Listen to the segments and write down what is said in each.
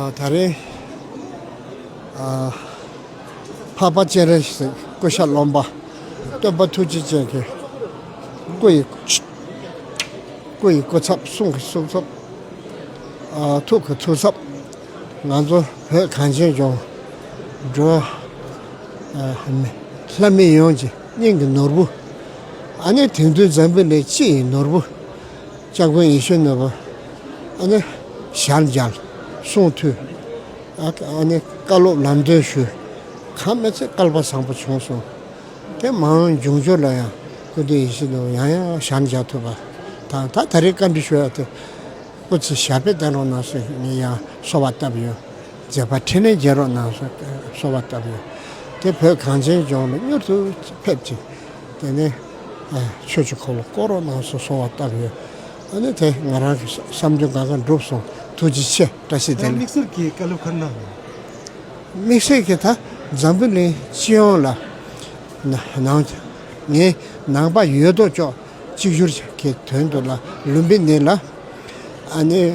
ད་རེས་འཕགས་པ་སྤྱན་རས་གཟིགས་སྐུ་ཤ་རློན་པ་སྟོན་པ་ཐུགས་རྗེ་ཅན་གྱི་སྐུ་ཡི་སྐུ་ཡི་སྐུ་ཚབ་གསུང་གི་གསུང་ཚབ་ཐུགས་ཀྱི་ཐུགས་ཚབ་ང་ཚོ་བོད་གངས་ཅན་ལྗོངས་འགྲོ་ལྷ་མི་ཡོངས་ཀྱི་སྙིང་གི་ནོར་བུ་ཨ་ནེ་དེང་དུས་འཛམ་བུ་ནས་སྤྱི་ཡི་ནོར་བུ། ལྕགས་དཔོན་ཡེ་ཤེས་ནོར་བུ། ཨ་ནི། ཞར་འབྱར། གསུང་ཐོས། ཨ་ནི། བཀའ་སློབ་ལམ་སྟོན་ཞུས། གང་སྨྲས་ཚེ་བསྐལ་པ་བཟང་པོ་བྱུང་གསུངས། དེ་མང་འབྱུང་འགྱུར་ལ་ཡང་སྐུ་མདུན་ཡེ་ཤེས་ནོར་བུ་ཡང་ཡང་ཞར་འབྱར་ཐུབ་པ་དང་ད་ད་རེས་བཀའ་འདྲི་ཞུ་ཡག་ཐུབ། སྐུ་ཚེ་ཞབས་པད་བརྟན་རོགས་གནང་གསུངས་ངས་ཡང་གསོལ་བ་བཏབ་ཡོད། མཛད་པ་འཕྲིན་ལས་རྒྱས་རོགས་གནང་གསོལ་བ་བཏབ་ཡོད། དེ་བོད་གངས་ཅན་ལྗོངས་ལ་མྱུར་དུ་ཕེབས་ཅིག། དེ་ནས་ཆོས་ཀྱི་འཁོར་ལོ་བསྐོར་རོ་ནང་སོ་སོང་བ་བཏབ་ཡོད། ཨ་ནི་དེ་ང་རང་གི་བསམ་དོན་གང་གང་འགྲུབ་སོང་ཐུགས་རྗེ་ཆེ་བཀྲ་ཤིས་བདེ་ལེགས། དམིགས་བསལ་གྱི་བཀའ་སློབ་ཁག་གནང་ཡོད། དམིགས་བསལ་གྱི་ད་འཛམ་བུ་གླིང་སྤྱི་ཡོངས་ལ་ནང་ནས་ནང་པ་ཡོད་དོ་ཅོག་གཅིག་གྱུར་གྱི་དོན་དུ་ལ་ལུམ་བི་ནི་ལ་ཨ་ནི།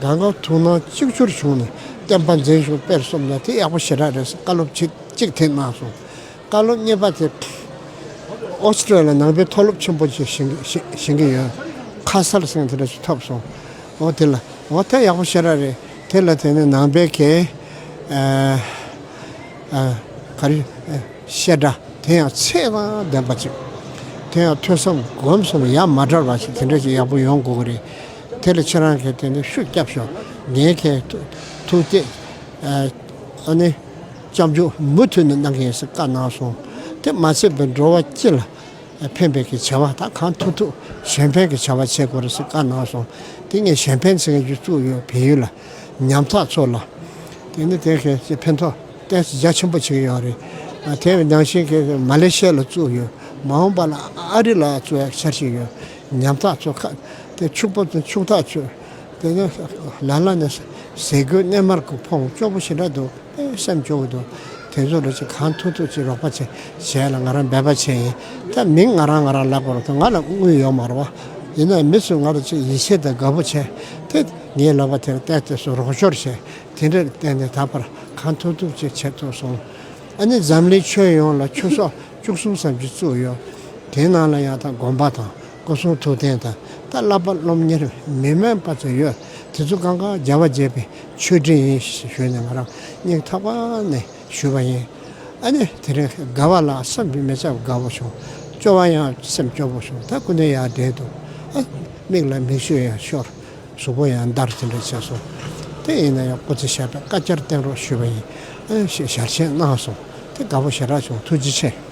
དགའ་འགག་ཐུགས་སྣང་གཅིག་གྱུར་བྱུང་ནས་བསྟན་པ་འཛིན་བྱུང་དཔེར་གསུམ་ལ་དེ་ཡག་པོ་ཞེ་དྲག་རེད་བསམ་བཀའ་སློབ་ཆིག་གཅིག་ཐེངས་གནང་སོང། བཀའ་སློབ་གཉིས་པ་དེ། Australia ནང་པའི་མཐོ་སློབ་ཆེན་པོ་ཞིག་བཞེངས་ཀྱི་ཡོད། ཁ་གསལ་གསེང་དེ་འདྲ་ཞིག་ཐོབ་སོང། འོ་དེ་ལ། འོ་དེ་ཡག་པོ་ཞེ་དྲག་རེད། དེ་ལ་དེ་ནི་ནང་པའི་གལ། ག་རེ། བཤད་གྲྭ། དེ་ཡང་ཚད་དང་ལྡན་པ་ཅིག། དེ་ཡང་ཐོས་བསམ་སྒོམ་གསུམ་ཡ་མ་བྲལ་བ་ཞིག་དེ་འདྲ་ཞིག་ཡག་པོ་ཡོང་དགོས་ཀྱི་རེད། དེ་ལ་ཁྱེད་རང་གིས་དེ་ནས་ཤུགས་རྒྱབ་ཤོག་ངས་ཁྱེད་ཐུག་སྟེ། ཨ་ནི། གཅམ་འཇུག་མུ་མཐུད་ནས་གནང་གི་ཡིན་ཟེར་བཀའ་གནང་སོང། དེ་མ་ཚད་པའི་འགྲོ་བ་སྤྱི་ལ་ཕན་པའི་གི་བྱ་བ་དག་གང་ཐུབ་ཐུབ་གཞན་ཕན་གི་བྱ་བ་བྱེད་དགོས་རེད་ཟེར་བཀའ་གནང་སོང། དེ་ངས་གཞན་ཕན་ཚེ་སྒྲིག་བཙུགས་ཡོད་བལ་ཡུལ་ལ་ཉམ་ཐག་ཚོ་ལ། དེ་ནི་དེ་གི་ཚེ་ཕན་ཐོག་ཏན་རྒྱ་ཆེན་པོ་བྱེད་ཀྱི་ཡོད་རེད། དེ་ཡི་ནང་བཞིན་གི་མ་ལེ་ཤེ་ལ་བཙུགས་ཡོད་མ་འོངས་པ་ལ་ཨ་རི་ལ་བཙུགས་ཡག་འཆར་གཞི་ཡོད་ཉམ་ཐག་ཚོ་ཁ་དེ་ཕྱུག་པོ་དེ་ཕྱུག་ཐག་ཆོད། དེ་ནས་ལ་ལ་ནས་ཟས་གོས་སྣལ་མར་གོས་འཕོངས་སྐྱོགས་པོ་ཞེ་དྲག་འདུག་པས་སེམས་སྐྱོ་བོ་འདུག་དེ་ཚོ་རེ་ཅིག་གང་ཐུག་ཐུག་ཅིག་རོགས་པ་ཆེ་བྱས་ལ་ང་རང་འབད་པ་བྱས་ཡིན་ད་མིང་ང་རང་ང་རང་ལབ་པར་ང་ལ་དངུལ་ཡོད་མ་རོ། ཡིན་ནའི་མི་ཚོས་ང་ལ་ཅིག་ཡིད་ཆེས་དང་དགའ་བོ་བྱས་དེ་ངའི་ལབ་པ་དེར་བལྟས་བལྟས་སུ་རོགས་སྐྱོར་བྱས་དེ་འདྲས་བལྟས་ནས་ད་བར་གང་ཐུག་ཐུག་ཅིག་བྱས་ཐུབ་སོང། ཨ་ནི་འཛམ་གླིང་ཆོས་ཡོངས་ལ་ཆུ་སོག་བཅུ་གསུམ་ཙམ་གྱི་བཙུགས་ཡོད་དེའི་ནང་ལ་ཡང་དང་དགོན་པ་དང། སྐུ་གསུང་ཐུགས་རྟེན་དང་ཏཱ་བླ་པ་སློབ་གཉེར་མི་དམན་པ་ཚོ་ཡོད་དེ་ཚོ་གང་གང་རྒྱལ་བ་དགྱེས་པའི་མཆོད་སྤྲིན་ཡིན་ཞུས་ནས་ང་རང་སྙིང་ཐག་པ་ནས་ཞུས་པ་ཡིན། ཨ་ནི་དེ་རིང་དགའ་བ་ལ་བསམ་གྱི་མི་ཚད་དགའ་བོ་བྱུང། སྐྱོ་བ་ཡང་སེམས་སྐྱོ་བོ་བྱུང་ད་སྐུ་མདུན་ཡར་བསྒྲེངས་འདུག་ཨ། མིག་ལ་མིག་ཆུ་ཡང་ཤོར། གཟུགས་པོ་ཡང་འདར་དེ་འདྲ་བྱས་སོང། དེ་ཡིན་ན་ཡང་སྐུ་ཚེ་ཞབས་པད་བསྐལ་བརྒྱར་བརྟན་རོགས་ཞུས་པ་ཡིན། ཞེས་ཞལ་ཆེམས་གནང་སོང། དེ་དགའ་བོ་ཞེ་དྲག་བྱུང་ཐུགས་རྗེ་ཆེ།